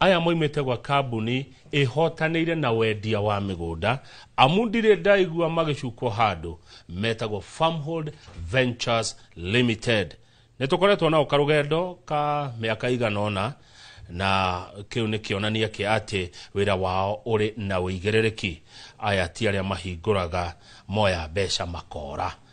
Aya moimĩte gwa kambuni ĩhotanĩire na wendia wa mĩgũnda amu ndirĩ ndaigua magĩcukwo handũ metagwo Farmhold Ventures Limited. Nĩ tũkoretwo nao karũgendo ka mĩaka igana ũna na kĩu nĩ kĩonania kĩa atĩ wĩra wao ũrĩ na ũigĩrĩrĩki. Aya ti arĩa mahingũraga moya mbeca makora.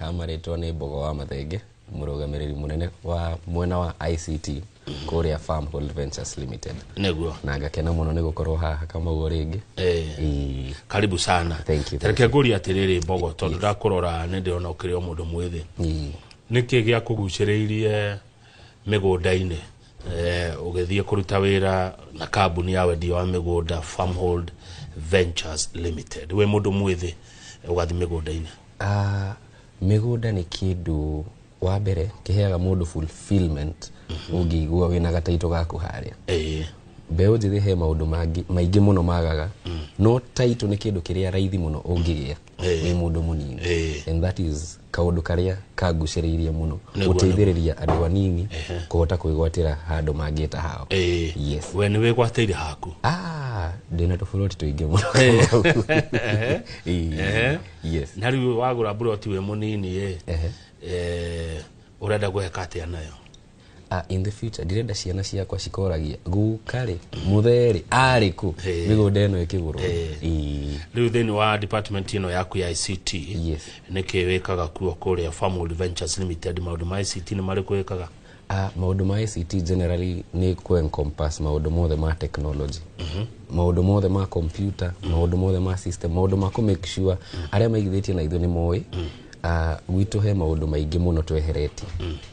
Amarĩtwo nĩ Mbogo wa Mathenge, mũrũgamĩrĩri mũnene wa mwena wa ICT kũrĩa Farm Hold Ventures Limited. Nĩguo. Na ngakena mũno nĩ gũkorwo haha Kamau rĩngĩ. Eh. Ĩĩ. Karibu sana. Thank you, thank Reke ngũrie atĩrĩrĩ Mbogo, tondũ ndakũrora nĩ ndĩrona ũkĩrĩ o mũndũ mwĩthĩ. Ĩĩ. Nĩkĩ gĩakũgucĩrĩirie mĩgũnda-inĩ? eh, ũgĩthiĩ kũruta wĩra na kambuni ya wendia wa mĩgũnda Farmhold Ventures Limited wĩ mũndũ mwĩthĩ ũgathiĩ mĩgũnda-inĩ Ah, mĩgũnda nĩ kĩndũ wa mbere kĩheaga mũndũ fulfillment ũngĩigua wĩna gataitũ gaku harĩa Eh, mbeũ njĩthĩ he maũndũ mangĩ maingĩ mũno magaga no taitũ nĩ kĩndũ kĩrĩa raithi mũno ũngĩgĩa Eh. wĩ mũndũ mũnini Eh. and that is kaũndũ karĩa kangucĩrĩirie mũno Nĩguo, gũteithĩrĩria andũ anini kũhota kwĩgwatĩra handũ mangĩta hao Eh, yes we nä wä gwatĩire haku ah ndĩna tũburoti tũingĩ mũno Eh, Ehe. yes na rä u wagå ra mburoti wä må nini ä Ehe. å renda gå heka atä a nayo Ah, in the future ndirenda ciana ciakwa cikoragia guka rĩ muthe rĩ arĩ kũ Eh. mĩgũnda ĩno ĩkĩgũrwo Eh. Ĩĩ. rĩu thĩinĩ wa department ĩno yaku ya ict Yes. nĩkĩ wĩkaga kuo kũrĩa Farmwood Ventures Limited maũndũ ma ict nĩ marĩkũ wĩkaga Ah, maũndũ ma ICT generally nĩ ku encompass maũndũ mothe ma technology maũndũ mothe ma computer maũndũ mothe ma system maũndũ ma kũ make sure arĩa maigithĩtie na ithuĩ nĩ moĩ Ah, gwitũ he maũndũ maingĩ mũno tweheretie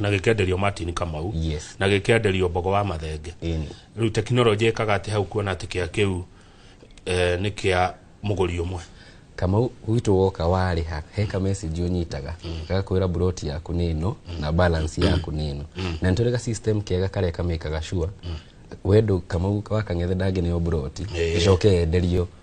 na gĩkenderio Martin Kamau Yes. na gĩkenderio Mbogo wa Mathenge Ĩni. rĩu tekinoronjĩ ĩkaga atĩ hau kuona atĩ kĩa kĩu eh, nĩ kĩa mũgũri ũmwe kamau gwitũ woka warĩha he ka message ũnyitaga gagakwĩra buroti yaku nĩ ĩno na balance yaku nĩ ĩno na nĩtũrĩ ga system kega karĩa kamĩkaga sure wendo kamau wakang'ethe ndangĩneo buroti Ĩĩ. ĩcoke yenderio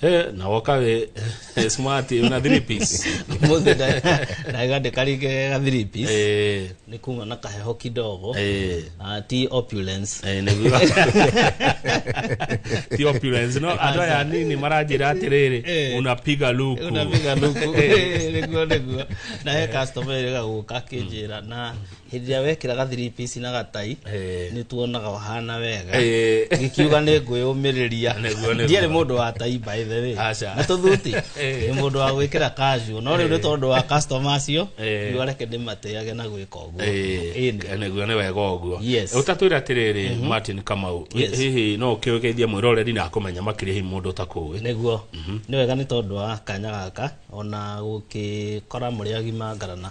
He, na wokawe smart una three piece Mũthĩ nda- ndagande karige ga three piece. eh Nĩ kuma na kaheho kidogo. eh Ah, ti opulence. eh niguo ti opulence no andå aya anini maranjĩra atĩrĩrĩ Eh. unapiga luku Unapiga luku. Nĩguo, nĩguo. Na he customer ĩrĩa ĩgagũka akĩnjĩra na hĩndĩ ĩrĩa wekĩra ga three piece na gatai Eh. nĩ tuonaga ũhana wega Eh. gĩkiuga nĩ ngwĩyũmĩrĩria Nĩguo, nĩguo. ndiarĩ mũndũ wa tai by the way Aca. na tũthuti Eh. nĩ mũndũ wa gwĩkĩra kanjũ no rĩu nĩ tondũ wa customer acio Eh. riũa reke ndĩmatĩage na gwĩka ũguo Ĩĩ. nĩguo nĩ wega ũguo Yes. ũtatwĩra atĩrĩrĩ martin kamau Yes. hihi no ũkĩũgeithia mwĩroreri na akũmenya makĩria hihi mũndũ ũtakũĩ nĩguo nĩ wega nĩ tondũ wa kanya gaka ona gũkĩkora mũrĩ agima ngarana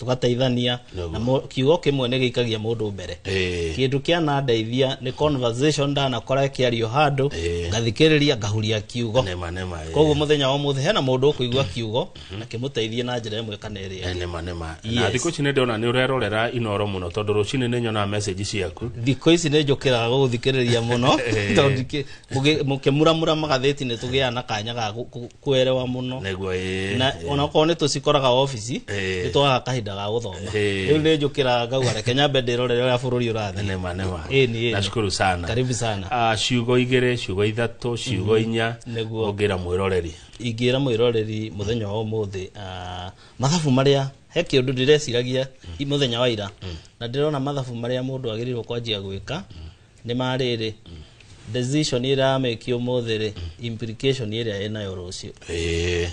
tũgateithania Naguo. na mo- kiugo kĩmwe nĩ gĩikagia mũndũ mbere Eh. kĩndũ kĩanandeithia nĩ conversation ndanakora kĩario handũ Eh. ngathikĩrĩria ngahuria kiugo nema nema eh. koguo mũthenya wa mũthĩ hena mũndũ ũkũigua kiugo na kĩmũteithie na njĩra ĩmwe kana ĩrĩa Eh, nema nema na Yes. thikũ ici nĩ ndĩrona nĩ ũrerorera inoro mũno tondũ rũcinĩ nĩ nyonaga message ciaku thikå ici nä njå kä raga gå thikärä ria må no tondå ndingä- Mũgĩ- mũkĩmuramura magathĩti nĩ tũgĩaga na kanya ga kũ- kũ- kwerewa mũno nĩguo ĩ na onakorwo nĩ tũcikoraga obici Ĩĩ. nĩ twaga kahinda ga gũthoma Ĩĩ. rĩu nĩ njũkĩra ngauga reke nyambe ndĩrorere ũrĩa bũrũri ũrathiĩ nema nema Ĩĩ, nĩ, ĩĩ. nashukuru sana karibu sana Ah, ciugo igĩrĩ ciugo ithatũ ciugo inya Nĩguo. ũngĩra mwĩroreri ingĩra mwĩroreri mũthenya wa ũmũthĩ ah, mathabu marĩa he kä å ndå ndä reciragia i må thenya wa ira na ndä rona mathabu marä a må ndå agä rä irwo kwanjia gwä ka nĩ marĩrĩ decision ĩrameki ũmũthĩ rĩ implication ĩrĩa ĩnayo rũciũ Eh,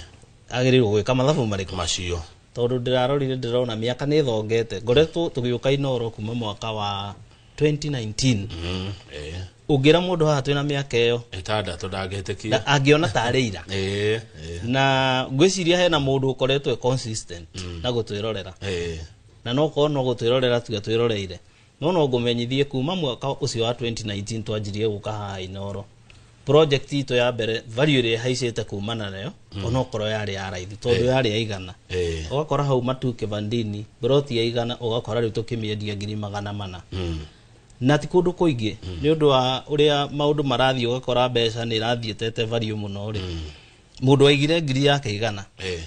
agĩrĩirwo gwĩka mathabu marĩkũ macio tondũ ndĩrarorire ndĩrona mĩaka nĩ ĩthongete ngoretwo tũgĩũka inoro kuma mwaka wa 2019 Mm, eh, ũngĩra mũndũ haha twĩna mĩaka ĩyo ĩtandatũ ndangĩtĩkia na angĩona tarĩ ira Eh, eh, na ngwĩciria hena mũndũ ũkoretwo e consistent na gũtwĩrorera eh, na no korwo no gũtwĩrorera tuga twĩroreire No no ngũmenyithie kuma mwaka ũcio wa 2019 twanjirie gũka haha Inooro project itũ ya mbere value ĩrĩa ĩhaicĩte kumana nayo mm. onokorwo yarĩ ya raithi tondũ Eh. yarĩ ya igana Eh. ũgakora hau matu kĩbandini broti ya igana ũgakora rĩu tũkĩmĩendia ngiri magana mana Mm. na ti kũndũ kũingĩ nĩ ũndũ wa ũrĩa maũndũ marathiĩ ũgakora mbeca nĩ irathiĩtete value mũno rĩ mũndũ waigire ngiri yake igana Eh.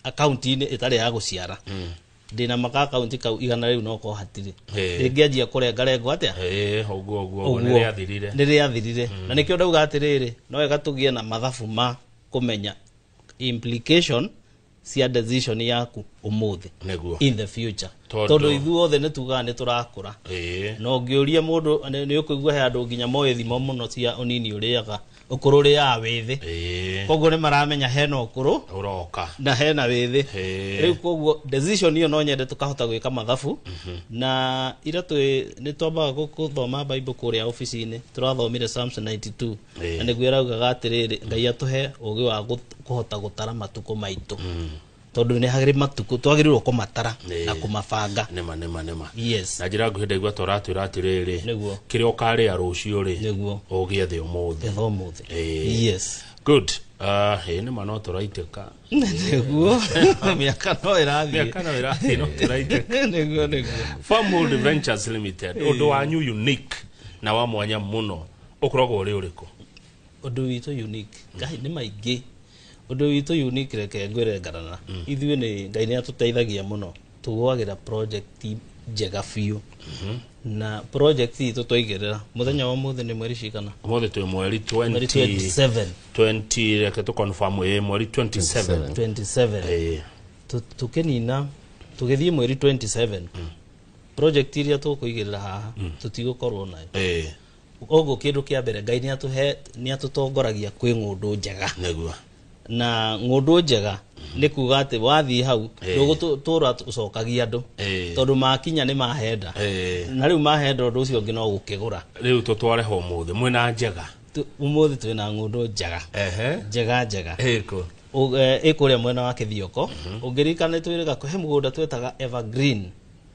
akaunti-inĩ ĩtarĩ ya gũciara ndĩna maka akaunti kau igana rĩu no ko hatirĩ Eh. rĩngĩanjia kũrengarengwo atĩa Eh, ũguo ũguo ũguo nĩ rĩathirire nĩ rĩathirire na nĩkĩo ndauga atĩrĩrĩ no wega tũgĩe na mathabu ma kũmenya implication cia decision yaku ũmũthĩ nĩguo in the future Tondũ- tondũ ithuothe nĩ tugaga nĩ tũrakũra Eh, na ũngĩũria mũndũ nĩ nĩ ũkũigua he andũ nginya moĩ thimo mũno cia ũnini ũrĩaga ũkũrũ rĩ ya wĩthĩ Ĩĩ, koguo nĩ maramenya hena ũkũrũ ũroka na hena wĩthĩ Ĩĩ. rĩu koguo decision iyo no nyende tũkahota gwĩka mathabu na ira twĩ nĩ twambaga gũ- gũthoma bible kũrĩa obici-inĩ tũrathomire psalms 92 Ĩĩ. na nĩguo ĩraugaga atĩrĩrĩ ngai atũhe ũgĩ wa gũ- kũhota gũtara matukũ maitũ tondå nä harä matukå twagä rä irwo kå matara Nĩ. na kå mabanga nĩma nĩma nĩma yes na njĩra nguhĩ ndaigua ta ũratwĩra atĩrĩrĩ Nĩguo. kĩrĩa ũkarĩa rũciũ rĩ Nĩguo. ũgĩe thĩ ũmũthĩ getha å må thä Ĩĩ. yes good Ah, ĩĩ nĩma no tũraitĩka nĩguo mä aka no ä rathiä mĩaka no ĩrathiĩ no tũraitĩka nĩguo nĩguo Farmhold Ventures Limited ũndũ wanyu unique na wa mwanya mũno ũkoragwo ũrĩ ũrĩkũ ũndũ witũ unique ngai nĩ maingĩ ũndũ witũ unique reke ngwĩre ngarana ithuĩ nĩ ngai nĩ atũteithagia mũno tũgwagĩra project njega biũ na project itũ twaigĩrĩra mũthenya wa ũmũthĩ nĩ mweri cigana Ũmũthĩ twĩ mweri mweri 20 27 20 reke tũ confirm ĩ mweri 27. 27 Ĩ. Tu- tũkĩnina tũgĩthiĩ mweri 27 project iria tũkũigĩrĩra haha tũtigũkorwo nayo Ĩ. koguo kĩndũ kĩa mbere ngai nĩ atũhe nĩ atũtongoragia kwĩ ng'ũndũ njega nĩguo na ng'ũndũ njega nĩ kuga atĩ wathiĩ hau Eh. ndũgũtũra ũcokagia andũ Eh. tondũ makinya nĩ mahenda Eh. na rĩu mahenda ũndũ ũcio ũngĩ no gũkĩgũra rĩu tũtware ho mũthĩ mwĩna njega Tu- ũmũthĩ twĩ na ng'ũndũ njega ehe njega njega ĩkũ Ũ- eh, ĩkũrĩa mwena wa kĩthioko ũngĩririkana nĩ twĩrĩga he mũgũnda twetaga evergreen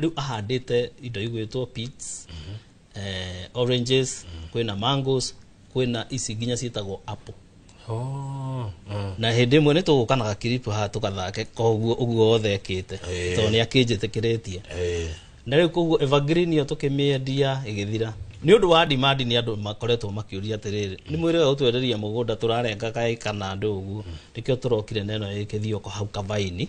rĩu ahandĩte indo igwĩtwo peats eh, oranges kwĩna mangoes kwĩna ici nginya ciĩtagwo apple Oh, mm. na hĩndĩ ĩmwe nĩ tũgũkanaga kiripu haha tũgathake koguo ũguo wothe ekĩte Eh. tondũ nĩ akĩnjĩtĩkĩrĩtie Eh, na rĩu koguo evergreen ĩyo tũkĩmĩendia ĩgĩthira nĩ ũndũ wa demand nĩ andũ makoretwo makĩũria atĩrĩrĩ nĩ mwĩrĩga gũtwenderia mũgũnda tũrarenga kaĩ kana andũ ũguo nĩkĩo tũrokire na ĩno ĩkĩthioko hau kabaini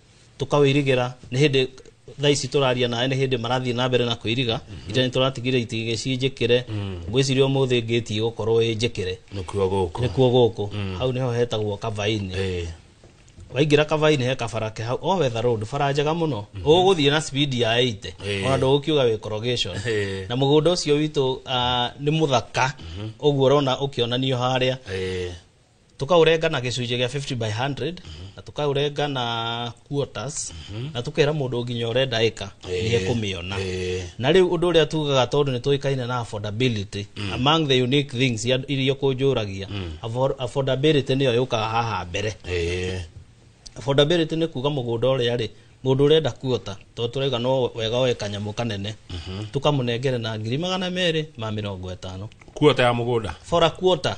tũkawĩirigĩra nĩ hĩndĩ thaa ici tũraria nawe nĩ hĩndĩ marathiĩ na mbere na kwĩiriga ita nĩ tũratigire itigĩ cinjĩkĩre ngwĩciria ũmũthĩ ngĩti ĩgũkorwo ĩ njĩkĩre nĩkuo gũkũ nĩkuo gũkũ hau nĩho hetagwo kabainĩ Eh, waingĩra kabainĩ he kabara ke hau o wetha road bara njega mũno ũgũthiĩ na speed ya 80 Eh. ona ndũgũkiuga wĩ corrugation Eh. na mũgũnda ũcio witũ ah, nĩ mũthaka ũguo ũrona ũkĩonanio harĩa eh, tukaũrenga na gĩcunjĩ gĩa 50 by 100 na tukaũrenga na quarters na tukera mũndũ nginya ũrenda ĩka nĩ ekũmĩona Eh. na rĩu ũndũ ũrĩa tugaga tondũ nĩ tũĩkaine na affordability among the unique things ya- iria kũnjũragia afford- affordability nĩyo yũkaga haha mbere Eh. affordability nĩ kuga mũgũnda ũrĩa rĩ mũndũ ũrenda kuota tondũ tũrauga no wega oe kanyamũ kanene tũkamũnengere na ngiri magana merĩ ma mĩrongo ĩtano kuota ya mũgũnda for a quarter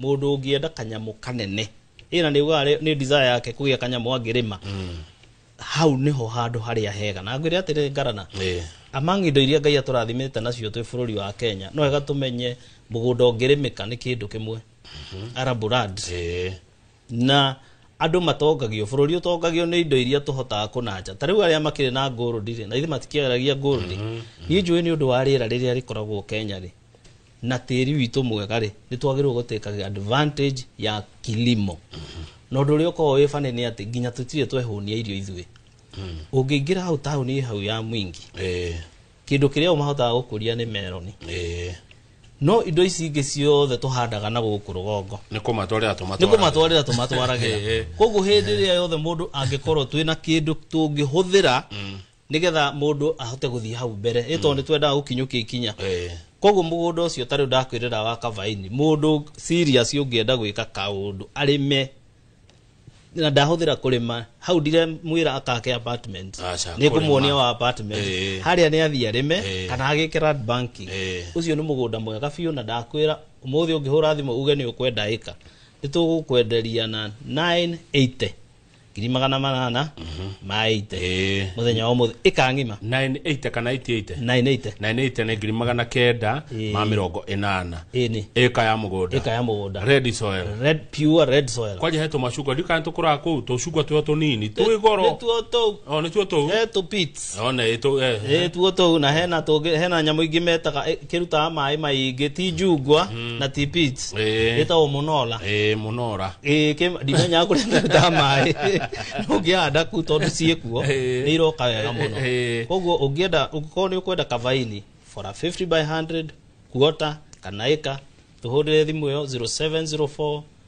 Mũndũ ũngĩenda kanyamũ kanene, ĩna nĩ ugaga nĩ desire yake kũgĩa kanyamũ angĩrĩma. Hau nĩho handũ harĩa hega. Na ngwĩre atĩrĩ Ngarana, Eh. among indo iria Ngai atũrathimĩte nacio twĩ bũrũri wa Kenya, no wega tũmenye mũgũnda ũngĩrĩmĩka nĩ kĩndũ kĩmwe. Arable land Eh. na andũ matongagio bũrũri ũtongagio nĩ indo iria tũhotaga kũnanja ta rĩu arĩa makĩrĩ na ngũrũndi rĩ na ithe matikĩaragia ngũrũndi niĩ njũĩ nĩ ũndũ wa rĩera rĩrĩa rĩkoragwo kenya rĩ na tĩri witũ mwega rĩ nĩ twagĩrĩirwo gũtĩkaga advantage ya kilimo na ũndũ ũrĩa ũkoragwo wĩ bane nĩ atĩ nginya tũtirĩ twehũnia irio ithuĩ ũngĩingĩra hau taũni ĩ hau ya mwingi Eh, kĩndũ kĩrĩa o mahotaga gũkũria nĩ meroni eh, no indo ici ingĩ ciothe tũhandaga na gũkũ rũgongo nĩ kũmatwarĩra nĩ tũmatwara kũmatwarĩra tũmatwaragĩra Eh, eh. koguo hĩndĩ ĩrĩa yothe mũndũ angĩkorwo twĩna kĩndũ tũngĩhũthĩra nigetha mundu ahote guthii hau mbere ĩ tondũ nĩtwendaga gũkinyũkia ikinya Eh. koguo mũgũnda ũcio tarĩu ndakwĩrĩra wa kabaini mũndũ serious ũngĩenda gwĩka kaũndũ arĩme na ndahũthĩra kũrĩma hau ndire mwĩra akake apartment Aca, nĩ ngũmuonia kũrĩma. wa apartment Eh. harĩa nĩ athiĩ arĩme Eh. kana agĩke land banking Eh. ũcio nĩ mũgũnda mwega biũ na ndakwĩra ũmũthĩ ũngĩhũra thimũ uge nĩ ũkwenda ĩka nĩ tũgũkwenderia na 980 ngiri magana manana ma ite Ĩĩ. muthenya wa umuthi ikangima 980 kana 88 na inaite 980 nĩ ngiri magana kenda Ĩĩ. ma mĩrongo ĩnana ini ĩka ya mũgũnda ika ya mugunda red soil red pure red soil kwanja he tũmacungwa ndikana tũkũraga kũu tũcungwa twĩho tũnini twĩ goro nituo tu o nĩtuo tũu eh tu pits Ona ĩtũ eh. Ĩ, tuo tũu na hena tũngĩ hena nyamũ ingĩ metaga ĩ, kĩrutaga maĩ maingĩ ti njungwa na ti pits Ĩ. ĩtagwo mũnola Eh, mũnora. Ĩ, kĩ- ndimenya kũrĩa kĩrutaga maĩ ũngĩhanda ku tondũ ciĩ kuo Ĩ. nĩ iroka wega mũno Ĩ. koguo ũngĩenda ũngĩkorwo nĩ ũkwenda kavaini for a 50 by 100 kuota kana ĩka tũhũrĩre thimũ ĩyo 0704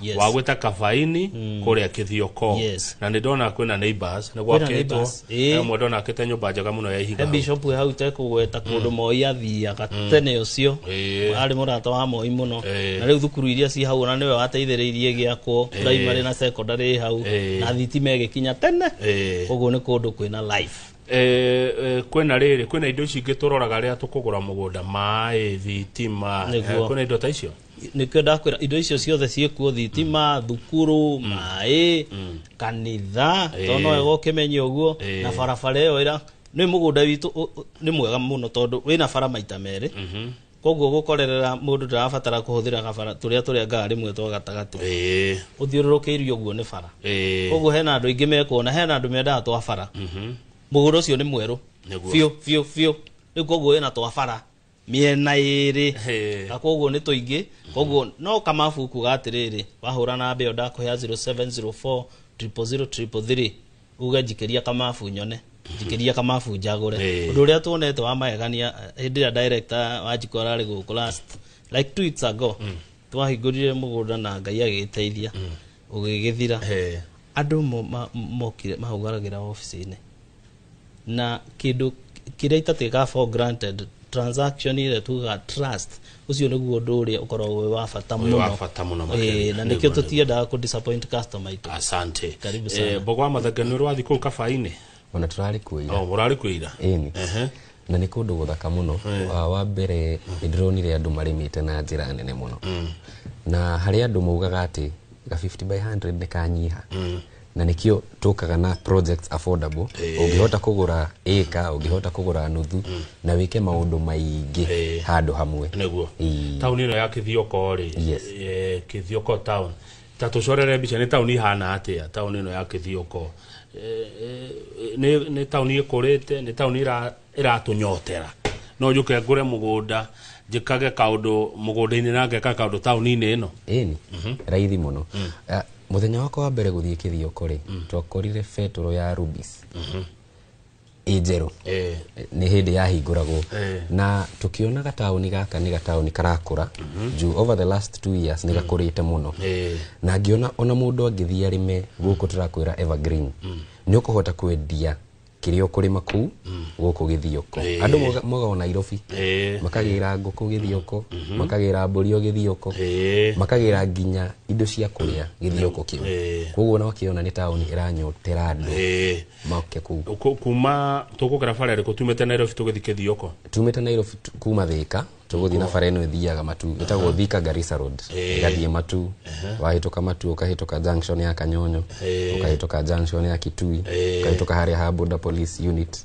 Yes. wa gwä ta kabaini kå rä a kä thioko Yes. na nä ndona kwä na neighbors, nä gwakĩtwo neighbors, ĩĩ. ĩmwe ndona akä te nyå mba njega må no ya ihiga he hau. bishop hau tekũgweta kũndũ moi athiaga tene ũcio Ĩĩ. arĩ mũrata wa moi mũno Ĩĩ. na rĩu thukuru iria ci hau na nĩwe wateithĩrĩirie gĩakwo primary na secondary ĩ hau Ĩĩ. na thitima ĩgĩkinya tene Ĩĩ. ũguo nĩ kũndũ kwĩna life Eh, eh, kwĩna rĩrĩ kwĩna indo ici ingĩ tũroraga rĩrĩa tũkũgũra mũgũnda maĩ thitima eh, Nĩguo. kwĩna indo ta icio nĩkĩo ndakwĩra indo icio ciothe ciĩkuo thitima thukuru maĩ kanitha Eh. tondũ wega ũkĩmenye ũguo Eh. na barabara ĩyo ĩra nĩ mũgũnda witũ ũ- ũ- nĩ mwega mũno tondũ wĩna bara maita merĩ Mhm. koguo gũkorerera mũndũ ndarabatara kũhũthĩra gabara tũrĩa tũrengaga rĩmwe twa gatagatĩ Eh, ũthiũrũrũkĩirio ũguo nĩ bara eh, koguo hena andũ aingĩ mekuona hena andũ mendaga twa bara mhm. mũgũnda ũcio nĩ mwerũ Nĩguo. biũ biũ biũ rĩu koguo wĩna twa bara mĩena ĩrĩ Hey. na koguo nĩ tũingĩ koguo no kamabu kuga atĩrĩrĩ wahũra namba ĩyo ndakũhea 0704 00033 uge njikĩria kamabu nyone njikĩria kamabu njagũre Hey. ũndũ ũrĩa tuonete wa magegania eh, hĩndĩ ĩrĩa director wa njiko ararĩ gũkũ last like two weeks ago twahingũrire mũgũnda na ngai agĩteithia ũgĩgĩthira. He. Andũ mo, ma, mokire mahaugaragĩra obici-inĩ na kĩndũ kĩrĩa itatwĩkaga for granted transaction ĩrĩa tugaga trust ũcio nĩguo ũndũ ũrĩa ũkoragwo wĩ wa bata Ũrĩ wa mũno bata mũno makĩria. Eh, na Nĩguo, nĩkĩo nĩguo. tũtiendaga kũ disappoint customer itũ asante Karibu sana. eh, mbogo wa mathanga nĩ ũrĩ wathi kũu kabainĩ ona tũrarĩ kuo ira oh, mũrarĩ kuo ira ĩni ehe na nĩ kũndũ gũthaka mũno Wa- wa mbere nĩ ndĩronire andũ marĩmĩte na njĩra nene mũno na harĩ andũ maugaga atĩ ga 50 by 100 nĩ kanyiha na nĩkĩo tũkaga na projects affordable ũngĩhota kũgũra ĩka ũngĩhota kũgũra nuthu na wĩke maũndũ maingĩ Eh. handũ hamwe nĩguo Ĩĩ. tauni ĩno ya kithioko rĩ Yes. eh, kithioko town ta tũcorere mbica nĩ taũni ihana atĩa taũni ĩno ya kĩthioko Eh, eh, nĩ nĩ taũni ĩkũrĩte nĩ taũni ĩra- ĩratũnyotera no njũke ngũre mũgũnda njĩkage kaũndũ mũgũnda-inĩ na ngeka kaũndũ taũni-inĩ ĩno ĩni raithi mũno Ah, mũthenya wakwa wa mbere gũthiĩ kĩthioko rĩ twakorire betũrũ ya rubis ĩ njerũ eh, nä hä ndä yahingåragwo Eh. na tå kä ona gataåni gaka nä gataåni karakå juu over the last two years nä gakå rä te må no eh, na ngĩona ona mũndũ angĩthiĩ arĩme gũkũ tũrakwĩra evergreen nĩ ũkũhota kwendia kĩrĩa ũkũrĩma kũu gũkũ gĩthioko Eh. andũ moga- moga o nairobi eh, makagĩra ngũkũ gĩthioko makagĩra mbũri o gĩthioko eh, makagĩra nginya indo cia kũrĩa gĩthioko kĩu Eh. koguo ona wakĩona nĩ taũni ĩranyotera andũ eh. moke kuu Ku- kuma tugukira bara iriku tumite nairobi tugithi kithioko tumite nairobi tu- kuma thika tũgũthiĩ na bara ĩno ĩthiaga matu ĩtagwo thika garissa road ĩgathiĩ matu wahĩtũka matu ũkahĩtũka junction ya kanyonyo ũkahĩtũka junction ya kitui ũkahĩtũka harĩa ha border police unit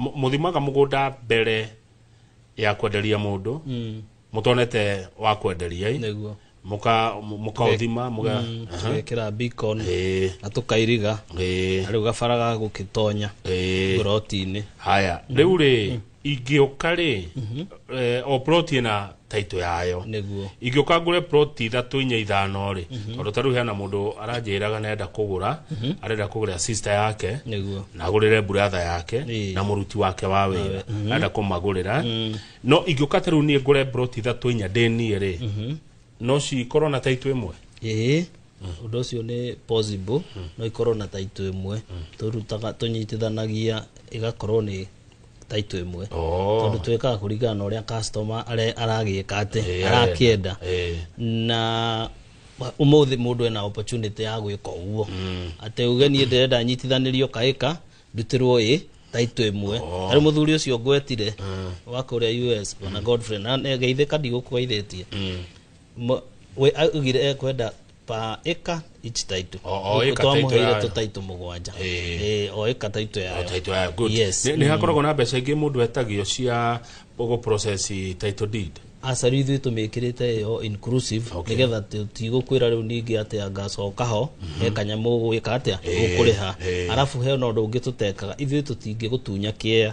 Mũ- mũthimaga mũgũnda mbere ya kwenderia mũndũ Mm, mũtonete wa kwenderia ĩ? nĩguo Mũka- mũ- mũkaũthima mũga- Mm, Aha. tũgekĩra beacon Ĩĩ, na tũkairiga ĩĩ, na rĩu gabara ga gũgĩtonya ĩĩ. ngorotinĩ haya rĩu rĩ ingĩũka rĩ eh, o ploti ĩna taito yayo niguo ingĩũka ngũre plot ithatũ inya ithano rĩ mhm. tondũ tarĩu hena mũndũ aranjĩraga nenda kũgũra mhm. arenda kũgũra sister yake niguo na agũrĩre brother yake na mũruti wake wa wĩra mhm. arenda kũmagũrĩra mm. no ingĩũka tarĩu niĩ ngũre plot ithatũ inya ndĩ niĩ rĩ no cikorwo na taito ĩmwe ĩĩ undu ucio ni possible no ikorwo na taito imwe turutaga tunyitithanagia igakorwo ni taito ĩmwe Oh. tondũ twĩkaga kũringana na ũrĩa customer are- aragĩka atĩ Eh, arakĩenda eh. na umuthi mundu ena opportunity ya gwika uguo ati uge nie ndirenda nyitithanirio kaika ndutirwo i taito imwe ari muthuri ucio ngwetire wa kuria us ona godfrey na geithika ndigukugeithetie Mo- we augire ekwenda pa ĩka ici taitũ O- o ĩka taitũ twamũheire yayo. tũtaitũ mũgwanja Ĩĩ. Ĩĩ, o ĩka taitũ yayo Title yayo, good. Yes. Nĩ- nĩ hakoragwo na mbeca ingĩ mũndũ etagio cia gũ process title deed aca rĩu ithuĩ tũmĩkĩrĩte ĩyo inclusive Okay. nĩgetha tigũkwĩra rĩu ningĩ atĩ angacoka ho he kanyamũ gwĩka atĩa gũkũrĩha Ĩĩ. arabu he na ũndũ ũngĩ tũtekaga ithuĩ tũtingĩgũtunya kĩea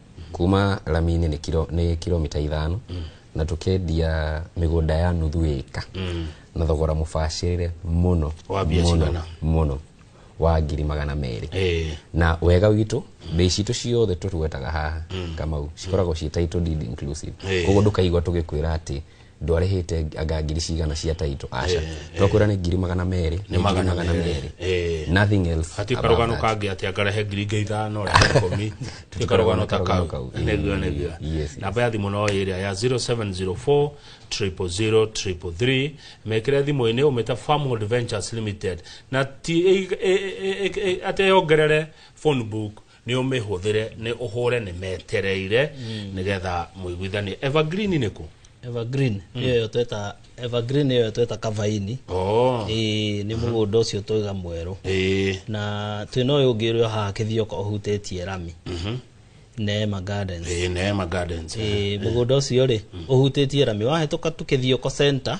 kuma rami-inĩ nĩ kiro- nĩ kilomita ithano na tũkendia mĩgũnda ya nuthu ĩka na thogora mũbacĩrĩre mũno Wa mbia mũno, cigana? mũno wa ngiri magana merĩ Eh. na wega witũ mbei citũ ciothe tũtwetaga haha kamau cikoragwo ciĩ title deed inclusive Eh. koguo ndũkaigua tũgĩkwĩra atĩ ndwarĩhĩte anga ngiri cigana cia taito aca twakwĩra nĩ ngiri magana merĩ nĩ ngiri magana magana merĩ. merĩ Eh. nothing else hati above karugano that. kangä atä angarehe ngiri ingä ithano rehe komi ti karugano ta karugano kau kau. niguo niguo Yes, yes. namba ya thimå no ä rä a ya 0704 000 333 mekä re thimå inä å mä ta farmhold ventures limited na ti atä yongerere phone book nĩ ũmĩhũthĩre nĩ ũhũre nĩ metereire nĩgetha mũiguithanie evergreen nĩ kũ evergreen ĩyo yo tweta evergreen ĩyo yo tweta kavaini oh. ĩĩ nĩ mũgũnda ũcio twĩga mwerũ ĩĩ na twĩ na ũyũ ũngĩ ũrĩa haha kĩthioka ũhutĩtie rami neema gardens ĩĩ neema gardens Ĩĩ, mũgũnda ũcio rĩ ũhutĩtie rami wahĩtũka tu kĩthioko center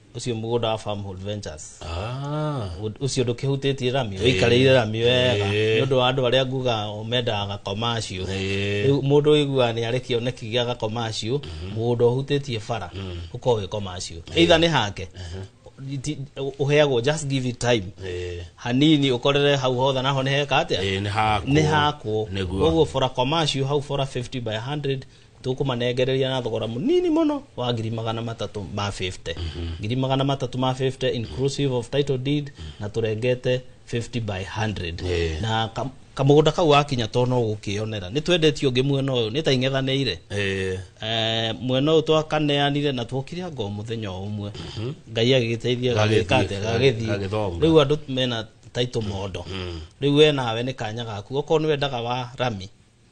ucio mugunda wa farmhold ventures Ah. Ũ- ucio ndukihutitie rami wikarire rami wega Ĩĩ. ni undu wa andu aria nguga mendaga gakoma acio Ĩĩ. riu mundu wiguaga ni ari kioneki gia gakoma acio mugunda uhutitie bara uko wikoma acio either ni hake Ti- uheagwo just give it time Eh, hanini ukorere hau hothe naho ni heka atia eh, nĩ hakwo. nĩ hakwo Nĩguo. koguo bora koma acio hau bora 50 by 100 tũkũmanengereria na thogora mũnini mũno wa ngiri magana matatũ ma 50 ngiri magana matatũ ma 50 inclusive of title deed na tũrengete 50 by 100 Yeah. na kam- kamũgũnda kau wakinya to no gũkĩonera nĩ twendetio ũngĩ mwena ũyũ nĩ ta ing'ethanĩire Eh, Eh, mwena ũyũ twakaneanire na twokire ngo mũthenya o ũmwe ngai agĩgĩteithia Gagĩthiĩ, gagĩka atĩ gagĩthiĩ gagĩthonga. rĩu andũ mena taitũ mondo rĩu we nawe nĩ kanya gaku okorwo nĩ wendaga wa rami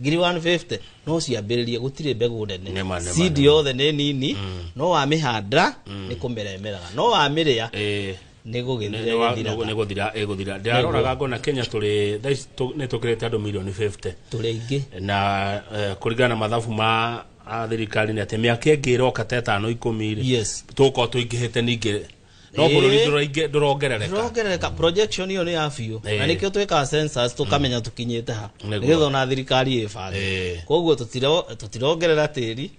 ngiri 150 no ciambĩrĩrie gũtirĩ mbegũ nene Nĩma, nĩma, cindi nĩma. yothe nĩ nini no wamĩhanda nĩ kũmera ĩmeraga no wamĩrĩa Eh, nĩ nĩ- gũgĩthira nĩ wa- gĩthiraga. nĩ gũthira ĩgũthira ndĩraroraga ngona kenya tũrĩ thaa ici tũ- nĩ tũkĩrĩte andũ milioni 50 tũrĩ aingĩ na eh, kũringana na mathabu ma a thirikari nĩ atĩ mĩaka ĩngĩ ĩroka ta ĩtano ikũmi rĩ Yes. tũgũkorwo tũingĩhĩte ningĩ no Ĩĩ. bũrũri ndũraingĩ- ndũrongerereka ndĩrongerereka projection iyo nĩ ya biũ Ĩĩ. na nĩkĩo twĩkaga census tũkamenya tũkinyĩte ha Nĩguo. nĩgetha ona thirikari ĩbange Ĩĩ. koguo tũtiro- tũtirongerera tĩri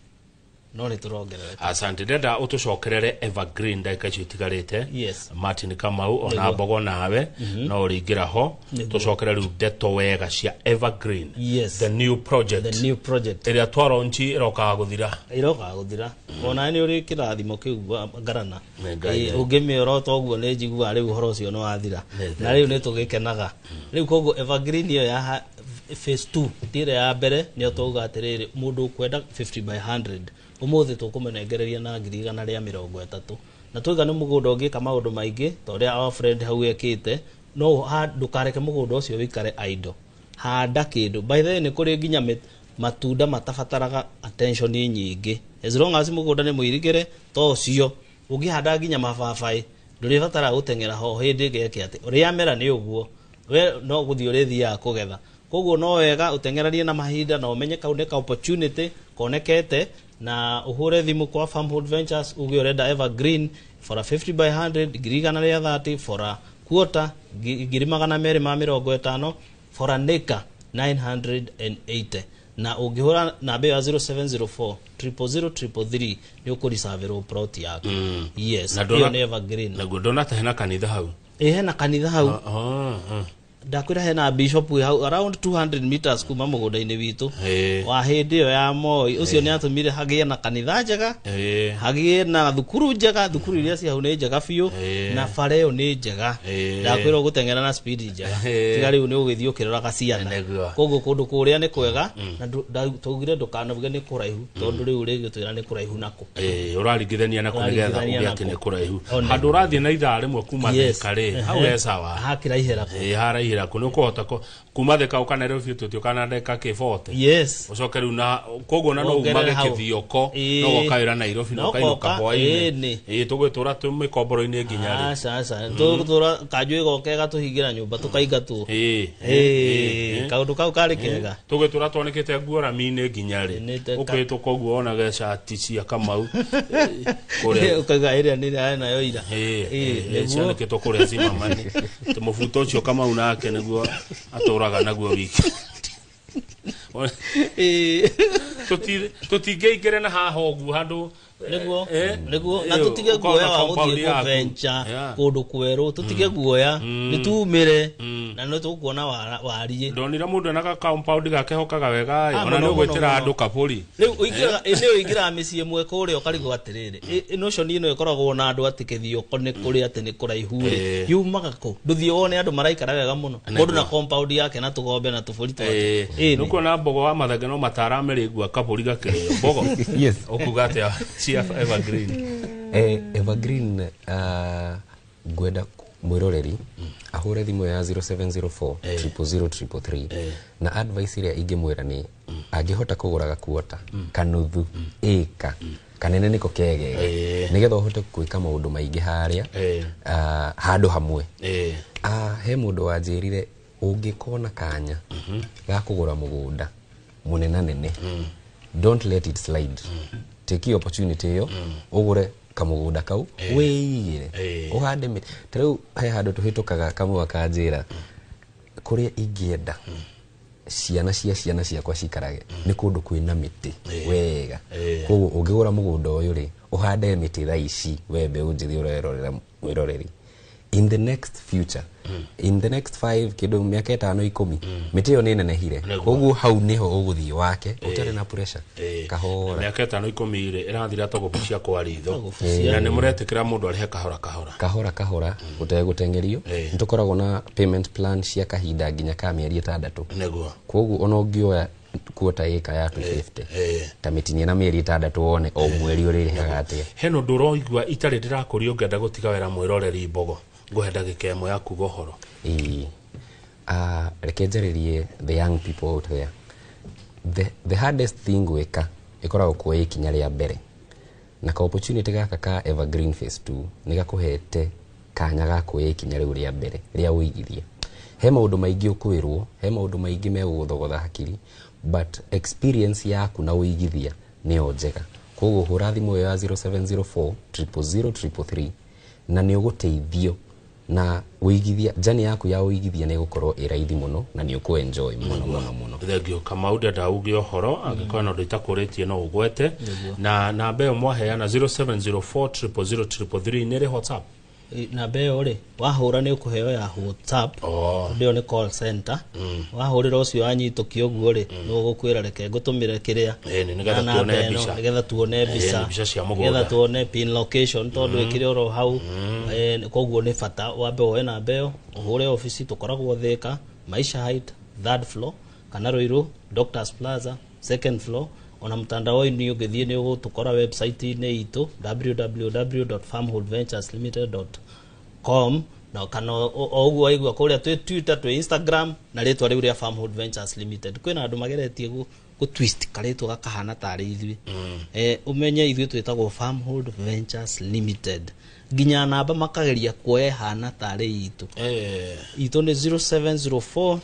no nĩ tũrongerereka asante ndenda ũtũcokerere evergreen ndagĩka icio itigarĩte Yes. martin kamau ona Nĩguo. mbogo nawe no ũrĩingĩra ho tucokere riu ndeto wega cia evergreen Yes. the new project the new project ĩrĩa twaronchi ĩrokaga gũthira irokaga guthira ona ni uri kirathimo kiu wa ngarana Nĩ Ngai. Eh, ũngĩmĩorota ũguo nĩ njiguaga rĩu ũhoro ũcio nĩ wathira Nĩ na rĩu nĩ tũgĩkenaga rĩu koguo evergreen ĩyo ya ha- phase 2 ti ĩrĩa ya mbere nĩyo twauga atĩrĩrĩ mũndũ ũkwenda 50 by 100 ũmũthĩ tũkũmũnengereria na ngiri igana rĩa mĩrongo ĩtatũ na twaiga nĩ mũgũnda ũngĩka maũndũ maingĩ ta ũrĩa our friend hau ekĩte no ũha- ndũkareke mũgũnda ũcio wĩikare idle handa kĩndũ by the way nĩ kũrĩ nginya mĩ- matunda matabataraga attention nyingĩ as long as mũgũnda nĩ mũirigĩre ta ũcio ũngĩhanda nginya mababaĩ ndũrĩbatara gũteng'era ho hĩndĩ geke atĩ rĩamera nĩ ũguo we no gũthiĩ ũrĩthiaga kũgetha koguo no wega ũteng'eranie na mahinda na ũmenye kau nĩ ka opportunity konekete na ũhũre thimũ kwa farmhold ventures uge ũrenda evergreen For a fifty by hundred, ngiri igana rĩa thate, for a quarter, ngi- ngiri magana merĩ ma mĩrongo ĩtano, for an acre, 980. Na ũngĩhũra namba ĩyo ya 0704 000 333 nĩ ũkũricavĩrwo plot yaku. Yes, Na ndona- ĩyo nĩ evergreen. naguo ndona ta hena kanitha hau Ĩ hena kanitha hau. Oh, oh. ndakwira hena bishop wĩ hau around 200 meters kuma mũgũnda-inĩ witũ Eh. wa hĩndĩ ĩyo ya moi ũcio nĩ atũmire hagĩe na kanitha njega Eh. hagĩe na thukuru njega thukuru iria ci hau nĩ njega biũ Eh. na bara ĩyo nĩ njega Eh. ndakwĩra ũgũteng'era na speed njega Eh. tiga rĩu nĩ ũgĩthiĩ ũkĩroraga ciana Nĩguo. koguo kũndũ kũrĩa nĩ kwega na ndu- nda- twaugire ndũkanabuge nĩ kũraihu tondũ rĩu rĩgĩtwĩra nĩ kũraihu nako Eh, ũraringithania na kũnĩgetha Ũraringithania ũgĩ na atĩ kũ- nĩ kũraihu One. handũ ũrathiĩ na ithaa rĩmwe kuma Yes. thĩka rĩ hau Ehe. e sawa hakiraihera ko Eh, haraihĩra kũ nĩ ũkũhota kũ- kuma thĩka ũkanerwo biũ tũtĩ ũkana ndagĩka kĩbote yes ũcoke rĩu na koguo na no Wongerere umage hau. kĩthioko Ĩĩ. no gokawĩra nairobi Na no kainũka ũkoka, ĩĩ, hwainĩ nĩ. Ĩĩ, tũgwĩtũra twĩ mĩkomboro-inĩ nginya rĩ aca aca tũtũra kanjũ ĩgoka ĩgatũhingĩra nyũmba tũkaingatwo Ĩĩ, ĩĩ, Ĩĩ, ĩĩ. kaũndũ kau karĩ kega tũgĩtũra twanĩkĩte nguo rami-inĩ nginya rĩ Nĩ te- ũkĩhĩtũka ũguo wonaga cati cia kamau kũrĩa ũkaiga ĩrĩa nĩ ĩrĩa nayo ira Ĩĩ, Ĩĩ, ĩĩ, nĩguo. cianĩkĩtwo kũrĩa cimamani Tĩ mũbuto ũcio kamau nake nĩguo atũraga naguo wiki Ĩĩ. Tũti- tũtingĩingĩre na haha ũguo handũ nĩguo Eh, nĩguo na eh, tũtige ũkorwo guoya na wa compound gũthiĩ yaku. kũbenja Yeah. kũndũ kwerũ tũtige guoya Mm. nĩtumĩre Mm. na nĩtũkuona wara- wariĩ ndonire mũndũ ena ga compound gake hokaga wega Ah, ĩ, ona mũno, nĩ ũgwĩtĩra mũno, andũ mũno. kaburi rĩu ũingĩraga- ĩ, nĩ ũingĩraga mĩciĩ ĩmwe kũrĩa ũkarigwo atĩrĩrĩ ĩ- ĩ, notion ĩno ĩkoragwo na andũ atĩ kĩthioko nĩ kũrĩa atĩ nĩ kũraihu rĩ Eh. yumaga kũ ndũthiĩ wone andũ maraikara wega mũno mũndũ na compound yake na tũgombe na tũbũri twake Eh, Ĩĩ, nĩ. nĩkuona mbogo wa mathenge no matarame rĩngua kabũri gakĩrĩo mbogo yes ũkuga atĩa cia evergreen Eh, evergreen uh, ngwenda ku- mwĩroreri ahũre thimũ ya 0704 00033 na advice ĩrĩa ingĩmwĩra nĩ angĩhota kũgũra gakuota kanuthu ĩka kanene nĩko kegega Eh. nĩgetha ũhote gwĩka maũndũ maingĩ harĩa Eh. ah, handũ hamwe Eh, Ah, he mũndũ wanjĩrire ũngĩkona kanya ga kũgũra mũgũnda mũnenanene don't let it slide take your opportunity ĩyo ũgũre kamũgũnda kau wĩigĩre Eh. ũhande mĩtĩ ta rĩu he handũ tũhĩtũkaga kamwe akanjĩra kũrĩa ingĩenda ciana cia ciana ciakwa cikarage nĩ kũndũ kwĩna mĩtĩ wega Eh. koguo ũngĩgũra mũgũnda ũyũ rĩ ũhande mĩtĩ thaa ici we mbeũ njĩthĩ ũrerorera mwiroreri in the next future in the next five kindu miaka itano ikumi miti iyo ni nenehire Nĩguo. koguo hau niho uguthii wake utari na pressure Eh, kahora miaka itano ikumi rĩ ĩrathira to gũbucia kwa ritho na nĩ mũretĩkĩra mũndũ arĩhe kahora kahora kahora kahora gutegutengerio Eh. nitukoragwo na payment plan cia kahinda nginya ka mieri itandatu nĩguo koguo ona ũngĩoya kuota ĩka ya 250 eh. ta mĩtinie na mĩeri ĩtandatũ wone o mweri ũrĩrĩhaga atĩa he nũndũ ũroigua itarĩ ndĩrakũria ũngĩenda gũtiga wĩra mwĩroreri mbogo ngũhe ndagĩka ĩmwe ya kuga ũhoro Ĩĩ. Ah, reke njarĩrie the young people out there the, the hardest thing gwĩka ĩkoragwo kuoya ikinya rĩa mbere na ka opportunity gaka ka Evergreen Phase 2 nĩ gakũhete kanya ga kuoya ikinya rĩu rĩa mbere rĩa ũigithia he maũndũ maingĩ ũkwĩrwo he maũndũ maingĩ megũgũthogotha hakiri but experience yaku na ũigithia nĩyo njega koguo hũra thimũ ĩyo ya 0704 000 333 na nĩ ũgũteithio na ũigithia njani yaku ya ũigithia nä ĩgũkorwo ä raithi må no na nä å kå enjoy må no må no må no thengio kamau ndenda uge ũhoro angĩkorwo na ũndũ itakũrĩtie no ũgwete na namba ĩyo mwaheana 0704000333 nĩ ĩrĩ whatsapp namba ĩyo rĩ wahũra nĩ ũkũheo ya whatsapp Oh. tondũ ĩyo nĩ call center mm. wahurira ucio anyituki uguo ri mm. no gukwira reke ngutumire kiria eh, nigetha tuone mbica nigetha tuone eh, mbica mbica cia mugunda nigetha tuone pin location tondu mm. ikiri oro hau eh, koguo ni bata wambe woe na mbeo uhure ofisi tukoragwo thika maisha height third floor kana ruiru doctors plaza second floor ona mtandao ini ungithie ni ugutukora website ini itu www.farmholdventureslimited.com com na kana o o ũguo waigua kũrĩa twĩ twitter twĩ instagram na rĩtwa rĩu rĩa farmhood ventures limited kwĩna andũ mageretie gũ gũ twist karĩtwa gakahana tarĩ ithuĩ eh, ũmenye ithuĩ twĩtagwo farmhood ventures limited nginya namba makageria kuoya ĩhana tarĩ itũ Eh, itũ nĩ 0704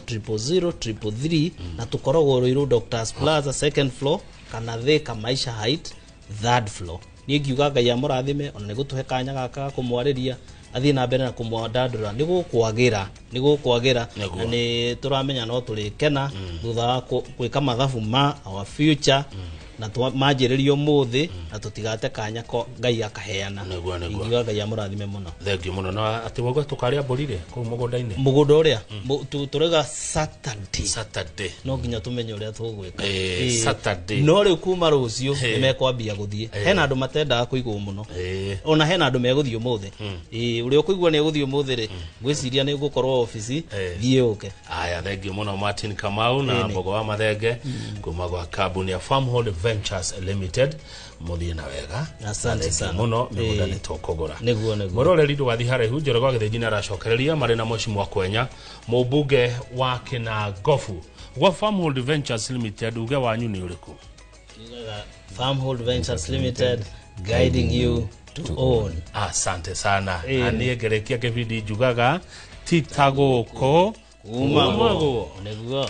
na tũkoragwo rũirũ doctors plaza second floor kana thika maisha height third floor niĩ ngiuga ngai amũrathime ona nĩ gũtũhe kanya gaka ga kũmwarĩria athiĩ na mbere na kũmwandandũra nĩ gũkwagĩra nĩ gũkwagĩra Nĩguo. na nĩ tũramenya no tũrĩkena thutha wa kũ- gwĩka mathabu ma our future na twa- manjĩrĩrio mũthĩ na tũtigate kanya ko ngai akaheana Nĩguo, nĩguo. ingiuga ngai amũrathime mũno thengiũ mũno na atĩ wauga tũkarĩa mbũri rĩ kũu mũgũnda-inĩ mũgũnda ũrĩa tũrega Saturday. saturday no nginya tũmenye ũrĩa tũgwĩka Eh, Eh, Saturday. no rĩu kuma rũciũ Eh. nĩ mekwambia gũthiĩ Eh. hena andũ matendaga kũigwo mũno Eh, ona hena andũ megũthiĩ ũmũthĩ Eh, ũrĩa ũkũigua nĩ egũthiĩ ũmũthĩ rĩ ngwĩciria nĩ ngũkorwo obici Eh. thiĩ ũke aya thengiå må no martin kamau na Ĩnĩ. mbogo wa mathenge kuma gwa kambuni ya farmhold ventures limited må thiä na wega Asante Na thengiũ sana. må no mä gå nda Ĩĩ. nä tå kå gå ra Nĩguo, nĩguo. må roreri ndå gathiä haraihu njorogo agä thä njinä aracokereria marä na moci mwa kwenya Mũmbunge wa Kĩnangobu gwa Farmhold Ventures Limited uge wanyu nĩ ũrĩkũ? Kiugaga Farmhold Ventures Limited guiding you to own. Asante sana. Eh. Na niĩ ngerekia kĩbindi njugaga ti ta gũkũ Kuma Kumagwo. nĩguo.